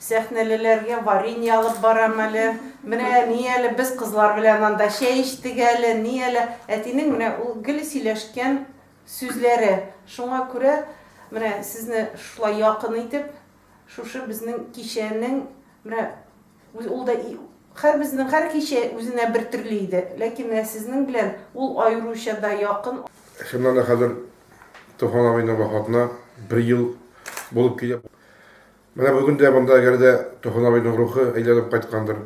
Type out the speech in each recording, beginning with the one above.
Сәхнәлеләргә варенье алып барам әле. Менә ни әле, без кызлар белән анда чәй эчтек әле, ни әле. Әтинең менә ул гел сөйләшкән сүзләре. Шуңа күрә менә сезне шулай якын итеп, шушы безнең кичәнең менә ул да һәрбезнең һәр кичә үзенә бер төрле иде, ләкин менә сезнең белән ул аеруча да якын. Чыннан да хәзер Туфан абыйның вафатына бер ел булып килә. Менә бүген дә монда гел дә Туфан абыйның рухы әйләнеп кайткандыр.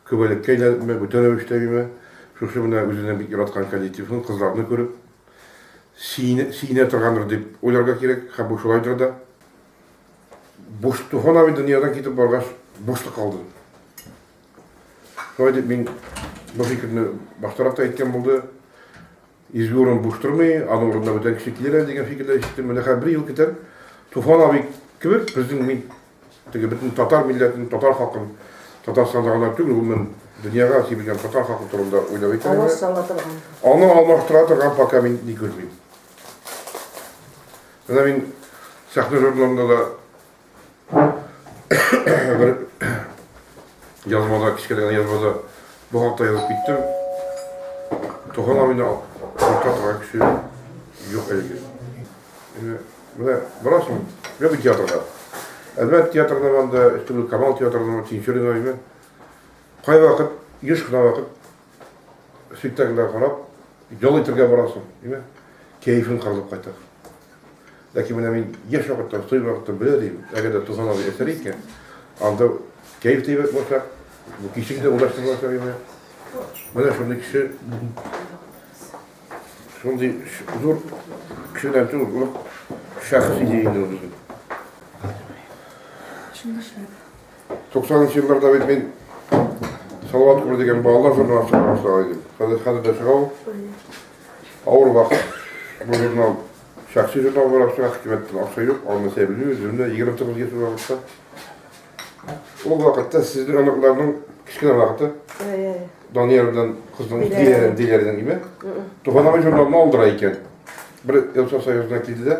Күбәлеккә әйләнепме, бүтән рәвештәгеме, шушы менә үзенең бик яраткан коллективын, кызларны күреп, сөенә, сөенә торгандыр дип уйларга кирәк, һәм бу шулайдыр да. Буш Туфан абый дөньядан китеп баргач, бушлык калды. Шулай дип мин бу фикерне баштарак та әйткән булды. Изге урын буш тормый, аның урынына бүтән кеше килер әле дигән фикерләр ишеттем. Менә хәзер бер ел көтәм. Туфан абый кебек безнең мин теге бөтен татар милләтен, татар халкын, Татарстанда гына түгел, гомумән дөньяга кибелгән татар халкы турында уйлап әйтә. Алар сала торган. Аны алмаштыра торган пока мин ни күрмим. Менә мин сәхнә журналында да Бер язмада, кечкенә генә язмада бу хакта язып киттем. Туган авыны алып торган кеше юк әлеге. Э, менә барасың, бер театрга. Әлбәт театрда банда, Камал театрында, Тинчурина име. Кай вакыт, еш кына вакыт спектакльләр карап, ял итәргә барасың, димә, кәефең кырылып кайта. Ләкин менә мин яшь вакытта, стой вакытта белә дим, әгәр дә Туфан абый әсәр икән, анда кәеф тә әйбәт булачак, бу кичек тә урнаштырылачак иде. Менә шундый кеше, шундый зур кешедән түгел, булып шәхес иде инде ул безнең. Шундый шәхес. Туксанынчы елларда бит мин Салават Кулы дигән балалар журналы чыгара башлаган идем. Хәзер хәзер дә чыга ул. Авыр вакыт. Бу журнал шәхси журнал буларак чыга, хөкүмәттән акча юк, аны сәбилү, үземне 29 яшь вакытта. Ул вакытта сезнең аныкларның кечкенә вакыты. Данияр белән кызның иярен диләрдән име? Туганабыз журналны алдыра икән. Бер Елса союзына килде дә,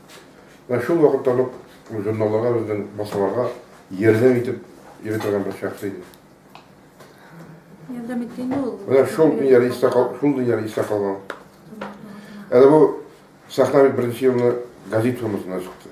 Менә шул вакытта ук журналларга безнең басуларга ярдәм итеп йөри торган бер шәхес иде. Ярдәм иткән ул. Менә шул дөньяда истә калган, шул дөньяда истә калган. Әле бу сәхнә бит беренче елны газет формасында чыкты.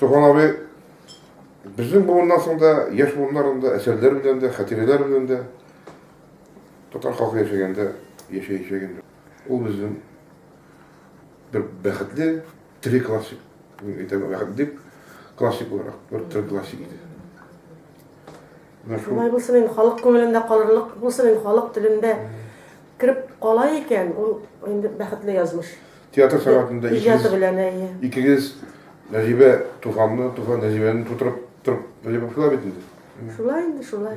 Туган абый безнең буыннан соң да, яшь буыннарның да әсәрләр белән дә, хатирәләр белән дә татар халкы яшәгәндә яшәячәк инде. Ул безнең бер бәхетле три классик, мин әйтәм, бәхетле классик буларак, бер три классик иде. Шулай булсын инде, халык күңелендә калырлык булсын инде, халык телендә кереп кала икән, ул инде бәхетле язмыш. Театр сәгатендә икегез... Иҗаты белән, әйе. Икегез Нәҗибә туфанны, туфан Нәҗибәне тутырып, тутырып, Нәҗибә шулай бит инде. Шулай инде, шулай.